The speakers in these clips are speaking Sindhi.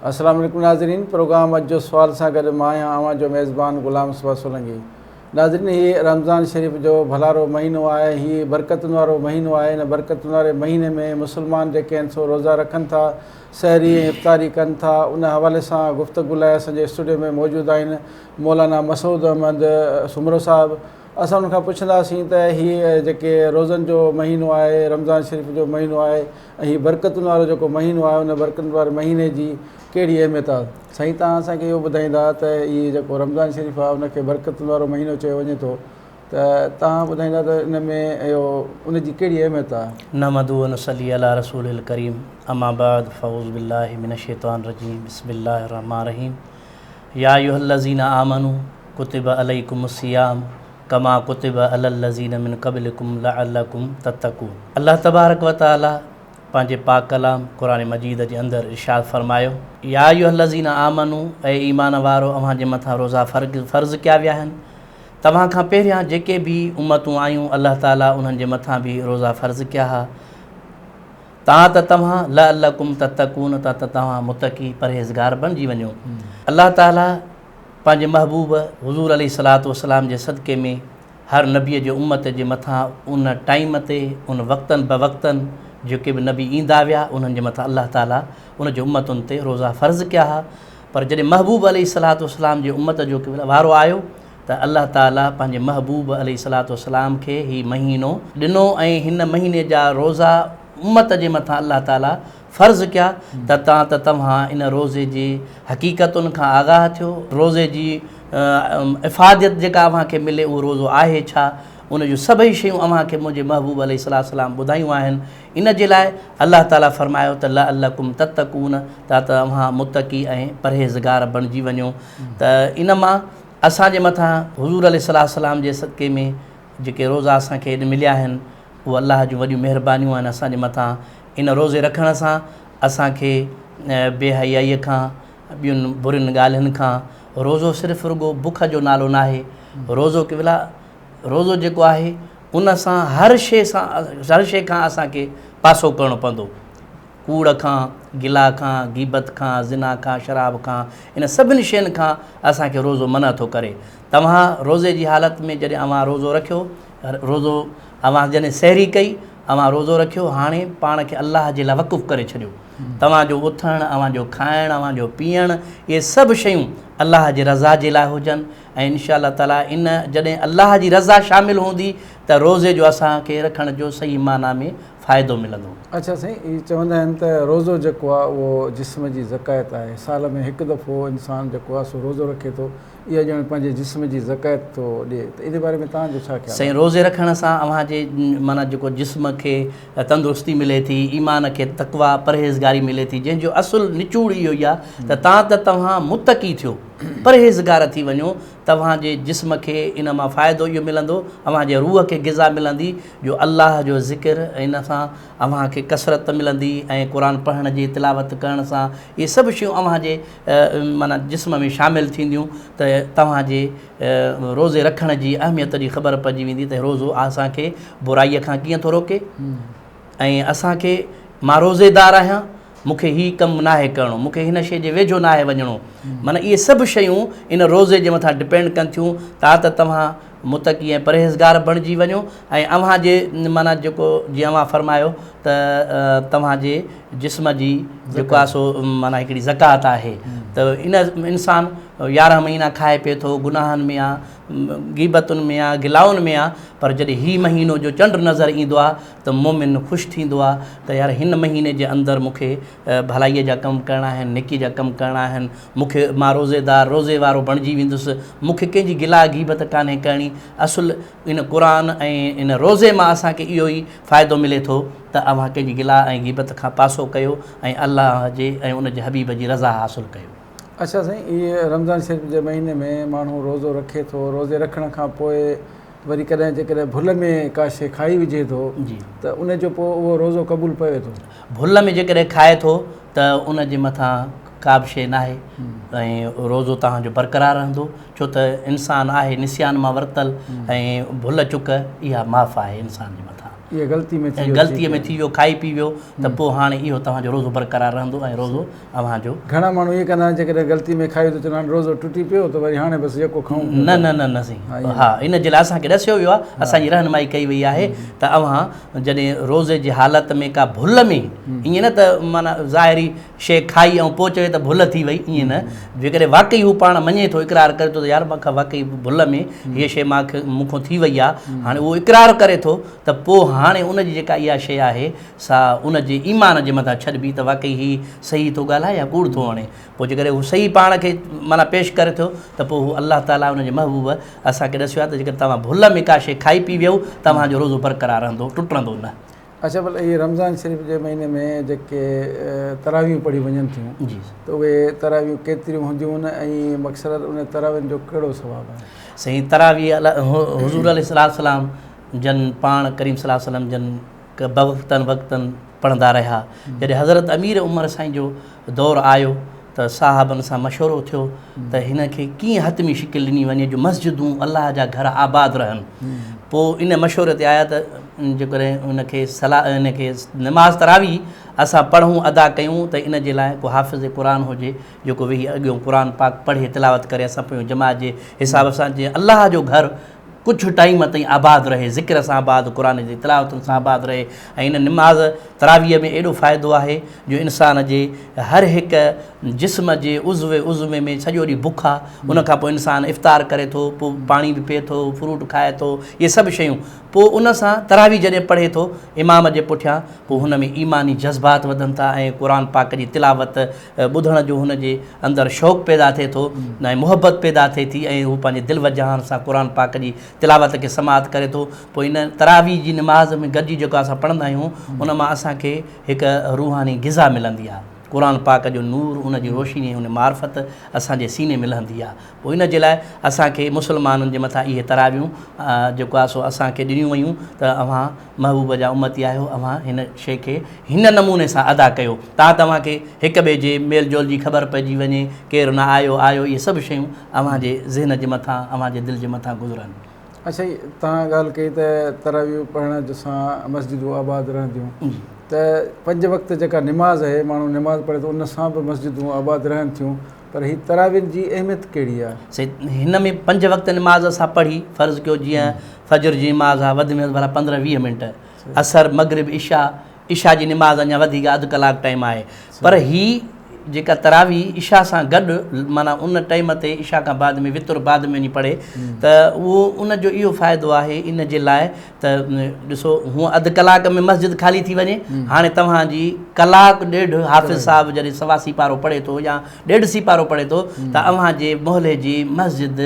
اسلام عليڪم ناظرين پروگرام اڄ جو سوال سان گڏ مان آهيان اوهان جو ميزبان غلام صبح سولنگي ناظرين هي رمضان شريف جو ڀلارو مهينو آهي هي برڪتن وارو مهينو آهي ان برڪتن واري مهيني ۾ مسلمان جيڪي آهن سو روزا رکن ٿا سحري ۽ افطاري ڪن ٿا ان حوالي سان گفتگو لاء اسان جي اسٽوڊيو ۾ موجود آهن مولانا مسعود احمد سومرو صاحب اسان ان کان پڇنداسين ته هي جيڪي روزن جو مهينو آهي رمضان شريف جو مهينو آهي ۽ هي برڪتن وارو جيڪو مهينو آهي ان برڪتن واري مهيني جي ڪهڙي اهميت آهي سائين توهان اسان کي اهو ٻڌائيندا ته هي جيڪو رمضان شريف آهي ان کي برڪتن وارو مهينو چيو وڃي ٿو ته توهان ٻڌائيندا ته ان ۾ اهو ان جي ڪهڙي اهميت آهي. نحمده ونصلي علي رسوله الڪريم اما بعد فاعوذ بالله من الشيطان الرجيم بسم الله الرحمٰن الرحيم يا ايها الذين آمنوا کتب عليکم الصيام ڪما ڪتب علي الذين من قبلڪم لعلڪم تتقون الله تبارڪ وتعالي پنهنجي پاڪ ڪلام قرآن مجيد جي اندر ارشاد فرمايو، يا ايها الذين آمنو اي ايمان وارؤ اوهان جي مٿان روزا فرض ڪيا ويا آهن توهان کان پهريان جيڪي به امتون آيون الله تعالي انهن جي مٿان به روزا فرض ڪيا ها تان ته توهان لعلڪم تتقون تان ته توهان متقي پرهيزگار بڻجي وڃو الله تعالي پنهنجي محبوب حضور عليه الصلوة والسلام جي صدقي ۾ هر نبيء جي امت جي مٿان ان ٽائيم تي ان وقتن بوقتن جيڪي به نبي ايندا ويا انهن جي مٿان الله تعالي ان جي امتن تي روزا فرض ڪيا ها پر جڏهن محبوب عليه الصلوة والسلام جي امت جو وارو آيو ته الله تعالي پنهنجي محبوب عليه الصلوة والسلام کي هي مهينو ڏنو ۽ هن مهيني جا روزا امت جي مٿان الله تعالي فرض ڪيا ته تان ته توهان ان روزي جي حقيقتن کان آگاهه ٿيو، روزي جي افاديت جيڪا اوهان کي ملي اهو روزو آهي ڇا؟ ان جون سڀئي شيون اوهان کي منهنجي محبوب عليه السلام ٻڌايون آهن، ان جي لاء الله تعاليٰ فرمايو ته لعلڪم تتقون تان ته اوهان متقي ۽ پرهيزگار بڻجي وڃو ته ان مان اسان جي مٿان حضور عليه السلام جي صدقي ۾ جيڪي روزا اسان کي اڄ مليا آهن اهي الله جون وڏيون مهربانيون آهن اسان جي مٿان ان روزي رکڻ سان اسان کي بي حيائيء کان، ٻين برين ڳالهين کان، روزو صرف رڳو بک جو نالو ناهي، روزو قبلا روزو جيڪو آهي ان سان هر شيء سان هر شيء کان اسان کي پاسو ڪرڻو پوندو، ڪوڙ کان، گلا کان، غيبت کان، زنا کان، شراب کان، ان سڀني شين کان اسان کي روزو منع ٿو ڪري. توهان روزي جي حالت ۾ جڏهن اوهان روزو رکيو روزو، اوهان جڏهن سحري ڪئي، اوهان روزو رکيو، هاڻي پاڻ کي الله جي لاء وقف ڪري ڇڏيو. توهان جو اٿڻ، اوهان جو کائڻ، اوهان جو پيئڻ، اهي سڀ شيون الله جي رضا جي لاء هجن ۽ ان شاء الله تعاليٰ ان جڏهن الله جي رضا شامل هوندي ته روزي جو اسان کي رکڻ جو صحيح معنيٰ ۾ فائدو ملندو. اڇا سائين اهي چوندا آهن ته روزو جيڪو آهي اهو جسم جي زڪات آهي سال ۾ هڪ دفعو انسان جيڪو آهي سو روزو رکي ٿو اها ڄڻ پنهنجي جسم جي زڪيت ٿو ڏي ته ان جي باري ۾ توهان جو ڇا خيال آهي؟ سائين روزي رکڻ سان اوهان جي معنيٰ جيڪو جسم کي تندرستي ملي ٿي ايمان کي تقويٰ پرهيزگاري ملي ٿي جنهن جو اصل نچوڙ اهو ئي آهي ته تان ته توهان متقي ٿيو پرهيزگار ٿي وڃو توهان جي جسم کي ان مان فائدو اهو ملندو اوهان جي روح کي غذا ملندي جو الله جو ذڪر ان سان اوهان کي ڪثرت ملندي ۽ قرآن پڙهڻ جي تلاوت ڪرڻ سان اهي سڀ شيون اوهان جي معنيٰ جسم ۾ شامل ٿينديون ته توهان جي روزي رکڻ جي اهميت جي خبر پئجي ويندي ته روزو اسان کي برائيء کان ڪيئن ٿو روڪي ۽ اسان کي مان روزيدار آهيان مون کي هي ڪم ناهي ڪرڻو مون کي هن شيء جي ويجهو ناهي وڃڻو معنيٰ اهي سڀ شيون ان روزي جي مٿان ڊپينڊ ڪن ٿيون تاته توهان متقي ۽ پرهيزگار بڻجي وڃو ۽ اوهان جي معنيٰ جيڪو جيئن اوهان فرمايو ته توهان جي جسم جي جيڪو آهي سو معنيٰ هڪڙي زڪوات آهي ته ان انسان يارهن مهينا کائي پي ٿو گناهن ۾ آ غيبتن ۾ آ گلائن ۾ آ پر جڏهن هي مهينو جو چنڊ نظر ايندو آ ته مومن خوش ٿيندو آ ته يار هن مهيني جي اندر مون کي ڀلائيء جا ڪم ڪرڻا آهن، نيڪيء جا ڪم ڪرڻا آهن، مون کي مان روزيدار، روزي وارو، بڻجي ويندس، مون کي ڪنهن جي گلا غيبت ڪانهي ڪرڻي، اصل ان قرآن ۽ ان روزي مان اسان کي اهو ئي فائدو ملي ٿو ته اوهان ڪنهن جي گلا ۽ غيبت کان پاسو ڪيو ۽ الله جي ۽ ان جي حبيب جي رضا حاصل ڪيو. اڇا سائين، هي رمضان شريف جي مهيني ۾ ماڻهو روزو رکي ٿو، روزي رکڻ کان پوء وري ڪڏهن جيڪڏهن ڀل ۾ ڪا شيء کائي وجهي ٿو ته ان جو پوء اهو روزو قبول پوي ٿو؟ ڀل ۾ جيڪڏهن کائي ٿو ته ان جي مٿان ڪا به شيء ناهي ۽ روزو توهان جو برقرار رهندو ڇو ته انسان آهي نسيان مان ورتل ۽ ڀل چڪ اها معاف آهي انسان جي مٿان ۽ غلطي ۾ ٿي ويو کائي پي ويو ته پوء هاڻي اهو توهان جو روزو برقرار رهندو ۽ روزو اوهان جو. گهڻا ماڻهو ائين ڪندا آهن جيڪڏهن غلطي ۾ کائي ويو ته چوندا آهن روزو ٽٽي پيو ته وري هاڻي بس يڪو کائون پيون ٿا. نه نه نه سائين ها ان جي لاء اسان کي ڏسيو ويو آهي اسان جي رهنمائي ڪئي وئي آهي ته اوهان جڏهن روزي جي حالت ۾ ڪا ڀل ۾ ائين نه ته معنيٰ ظاهري شيء کائي ۽ پوء چوي ته ڀل ٿي وئي ائين نه جيڪڏهن واقعي هو پاڻ مڃي ٿو اقرار ڪري ٿو ته يار مان کان واقعي ڀل ۾ هيء شيء مان کي مون کان ٿي وئي آهي هاڻي اهو اقرار ڪري ٿو ته پوء هاڻي ان جي جيڪا اها شيء آهي سا ان جي ايمان جي مٿان ڇڏبي ته واقعي هي صحيح ٿو ڳالهائي يا ڪوڙ ٿو وڻي. پوء جيڪڏهن هو صحيح پاڻ کي معنيٰ پيش ڪري ٿو ته پوء هو الله تعاليٰ ۽ ان جي محبوب اسان کي ڏسيو آهي ته جيڪڏهن توهان ڀل ۾ ڪا شيء کائي پي ويهو توهان جو روزو برقرار رهندو ٽٽندو نه. اچا ڀلا اهي رمضان شريف جي مهيني ۾ جيڪي تراويحون پڙهيون وڃن ٿيون ته اهي تراويحون ڪيتريون هونديون ۽ مڪثرت انهن تراويحن جو ڪهڙو ثواب آهي؟ سائين تراويح حضور عليه السلام جن پاڻ ڪريم صلي الله عليه وسلم جن ڪبه وقتن وقتن پڙهندا رهيا. جڏهن حضرت امير عمر سائين جو دور آيو ته صاحبن سان مشورو ٿيو ته هن کي ڪيئن حتمي شڪل ڏني وڃي جو مسجدون الله جا گهر آباد رهن. پوء ان مشوري تي آيا ته جيڪڏهن ان کي صلاح ان کي نماز تراويح اسان پڙهون ادا ڪيون ته ان جي لاء ڪو حافظ قرآن هجي جيڪو ويهي اڳيون قرآن پاڪ پڙهي تلاوت ڪري اسان پويون جماعت جي حساب سان جيئن الله جو گهر ڪجهه ٽائيم تائين آباد رهي، ذڪر سان آباد، قرآن جي تلاوتن سان آباد رهي ۽ ان نماز تراويح ۾ ايڏو فائدو آهي جو انسان جي هر هڪ جسم جي عضوي عضوي ۾ سڄو ڏينهن بک آ ان کان پوء انسان افطار ڪري ٿو پوء پاڻي به پئي ٿو فروٽ کائي ٿو اهي سڀ شيون پوء ان سان تراويح جڏهن پڙهي ٿو امام جي پٺيان پوء هن ۾ ايماني جذبات وڌن ٿا ۽ قرآن پاڪ جي تلاوت ٻڌڻ جو هن جي اندر شوق پيدا ٿئي ٿو ۽ محبت پيدا ٿئي ٿي ۽ هو پنهنجي دل وجهاڻ سان قرآن پاڪ جي تلاوت کي سماعت ڪري ٿو پوء ان تراويح جي نماز ۾ گڏجي جيڪو اسان پڙهندا آهيون ان مان اسان کي هڪ روحاني غذا ملندي آهي قرآن پاڪ جو نور ان جي روشني ان معرفت اسان جي سيني ۾ لهندي آهي پوء ان جي لاء اسان کي مسلمانن جي مٿان اهي تراويحون جيڪو آهي سو اسان کي ڏنيون ويون ته اوهان محبوب جا امتي آهيو اوهان هن شيء کي هن نموني سان ادا ڪيو تان توهان کي هڪ ٻئي جي ميل جول جي خبر پئجي وڃي ڪير نه آيو آيو اهي سڀ شيون اوهان جي ذهن جي مٿان اوهان جي دل جي مٿان گذرن. اچھا هي توهان ڳالھ ڪئي ته تراويح پڙهڻ سان مسجدون آباد رهنديون ته پنج وقت جيڪا نماز اهي ماڻهو نماز پڙهي ٿو ان سان به مسجدون آباد رهن ٿيون پر هي تراوين جي اهميت ڪهڙي آ؟ سيد هن ۾ پنج وقت نماز اسان پڙهي فرض ڪيو جيئن فجر جي نماز آ وڌ ۾ وڌ ڀلا پندرهن ويهه منٽ عصر مغرب عشاء عشاء جي نماز اڃا وڌيڪ اڌ ڪلاڪ ٽائيم آهي پر هي جيڪا تراويح عشاء سان گڏ معنيٰ ان ٽائيم تي عشاء کان بعد ۾ وتر بعد ۾ وڃي پڙهي ته اهو ان جو اهو فائدو آهي ان جي لاء ته ڏسو هونء اڌ ڪلاڪ ۾ مسجد خالي ٿي وڃي، هاڻي توهان جي ڪلاڪ ڏيڍ حافظ صاحب جڏهن سوا سيپارو پڙهي ٿو يا ڏيڍ سيپارو پڙهي ٿو ته اوهان جي محلي جي مسجد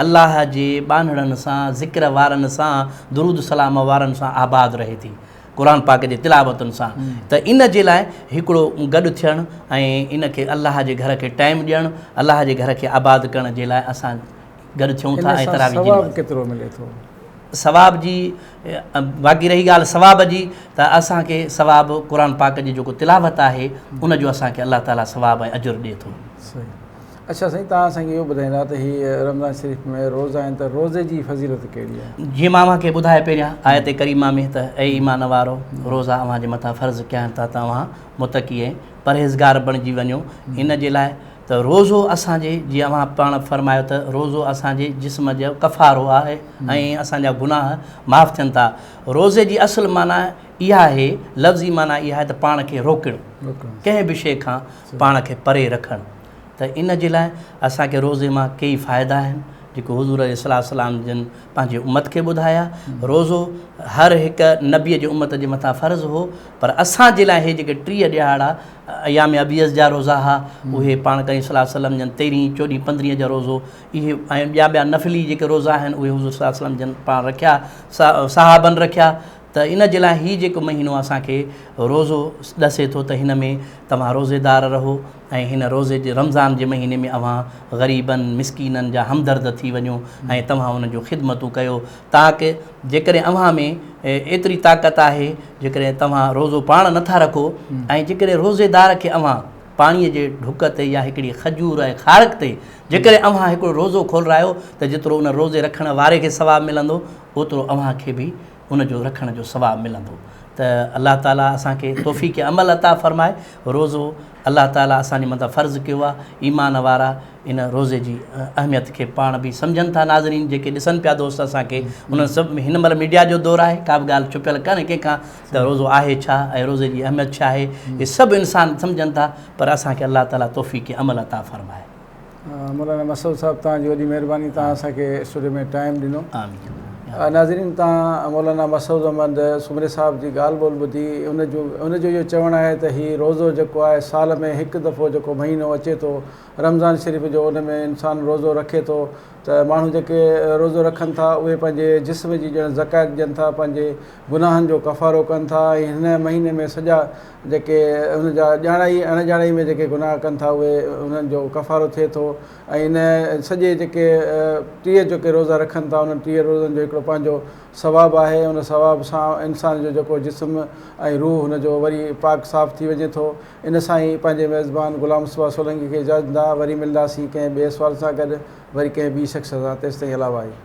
الله جي ٻانهڙن سان، ذڪر وارن سان، درود سلام وارن سان آباد رهي ٿي. قرآن پاڪ جي تلاوتن سان. ته ان جي لاء هڪڙو گڏ ٿيڻ ۽ ان کي الله جي گهر کي ٽائيم ڏيڻ، الله جي گهر کي آباد ڪرڻ جي لاء اسان گڏ ٿيون ٿا ۽ تراويح جي نماز. ڪيترو ملي ٿو؟ ثواب جي باقي رهي ڳالهه ثواب جي ته اسان کي ثواب قرآن پاڪ جي جيڪو تلاوت آهي ان جو اسان کي الله تعالي ثواب ۽ اجر ڏي ٿو. صحيح. اڇا سائين تان اسان کي اهو ٻڌائيندا ته هي رمضان شريف ۾ روزا آهن ته روزي جي فضيلت ڪهڙي آهي؟ جيئن مان اوهان کي ٻڌايو پهريان آيت ڪريمه ۾ ته اي ايمان وارو روزا اوهان جي مٿان فرض ڪيا آهن ته توهان متقي ۽ پرهيزگار بڻجي وڃو ان جي لاء ته روزو اسان جي جي اوهان پاڻ فرمايو ته روزو اسان جي جسم جو ڪفارو آهي ۽ اسان جا گناهه معاف ٿين ٿا. روزي جي اصل معنيٰ اها آهي، لفظي معنيٰ اها آهي ته پاڻ کي روڪڻ، ڪنهن به شيء کان پاڻ کي پري رکڻ ته ان جي لاء اسان کي روزي مان ڪيئي فائدا آهن جيڪو حضور عليه الصلوة والسلام جن پنهنجي امت کي ٻڌايا. روزو هر هڪ نبيء جي امت جي مٿان فرض هو پر اسان جي لاء هي جيڪي ٽيهه ڏهاڙا ايام ابيض جا روزا ها اهي پاڻ ڪريم صلي الله عليه وسلم جن تيرهين چوڏهين پندرهين جو روزو اهي ۽ ٻيا ٻيا نفلي جيڪي روزا آهن اهي حضور صلي الله عليه وسلم جن پاڻ رکيا صحابن رکيا ته ان جي لاء هي جيڪو مهينو اسان کي روزو ڏسي ٿو ته هن ۾ توهان روزيدار رهو ۽ هن روزي جي رمضان جي مهيني ۾ اوهان غريبن مسڪينن جا همدرد ٿي وڃو ۽ توهان انهن جون خدمتون ڪيو تاڪ جيڪڏهن اوهان ۾ ايتري طاقت آهي جيڪڏهن توهان روزو پاڻ نه ٿا رکو ۽ جيڪڏهن روزيدار کي اوهان پاڻيء جي ڍڪ تي يا هڪڙي کجور ۽ کارڪ تي جيڪڏهن اوهان هڪڙو روزو کولرايو ته جيترو ان روزي رکڻ واري کي ثواب ملندو اوترو اوهان کي به ان جو رکڻ جو ثواب ملندو ته الله تعاليٰ اسان کي توفيق عمل عطا فرمائي روزو الله تعالي اسان جي مٿان فرض ڪيو آهي، ايمان وارا ان روزي جي اهميت کي پاڻ به سمجهن ٿا ناظرين جيڪي ڏسن پيا دوست اسان کي انهن سڀ ۾ هن مهل ميڊيا جو دور آهي ڪا به ڳالهه ڇپيل ڪانهي ڪنهن کان ته روزو آهي ڇا ۽ روزي جي اهميت ڇا آهي اهي سڀ انسان سمجهن ٿا پر اسان کي الله تعالي توفيق عمل عطا فرمائي. مولانا مسعود صاحب تان جي وڏي مهرباني تان اسان کي اسٽوڊيو ۾ ٽائم ڏنو ناظرين تان مولانا مسعود احمد سمري صاحب جي ڳالهه ٻولهه ٻڌي ان جو ان جو اهو چوڻ آهي ته هي روزو جيڪو آهي سال ۾ هڪ دفعو جيڪو مهينو اچي ٿو رمضان شريف جو ان ۾ انسان روزو رکي ٿو ته ماڻهو جيڪي روزو رکن ٿا اهي پنهنجي جسم جي ڄڻ زکات ڏين ٿا پنهنجي گناهن جو ڪفارو ڪن ٿا ۽ هن مهيني ۾ سڄا جيڪي هن جا ڄاڻائي ۽ اڻڄاڻائي ۾ جيڪي گناهه ڪن ٿا اهي انهن جو ڪفارو ٿئي ٿو ۽ ان سڄي جيڪي ٽيهه جيڪي روزا رکن ٿا انهن ٽيهه روزن جو هڪڙو پنهنجو ثواب آهي ان ثواب سان انسان جو جيڪو جسم ۽ روح هن جو وري پاڪ صاف ٿي وڃي ٿو ان سان ئي پنهنجي ميزبان غلام مصطفيٰ سولنگي کي اجازت ڏيندا وري ملنداسين ڪنهن ٻئي سوال سان گڏ وري ڪنهن ٻي شخص سان تيستائين الا وائي.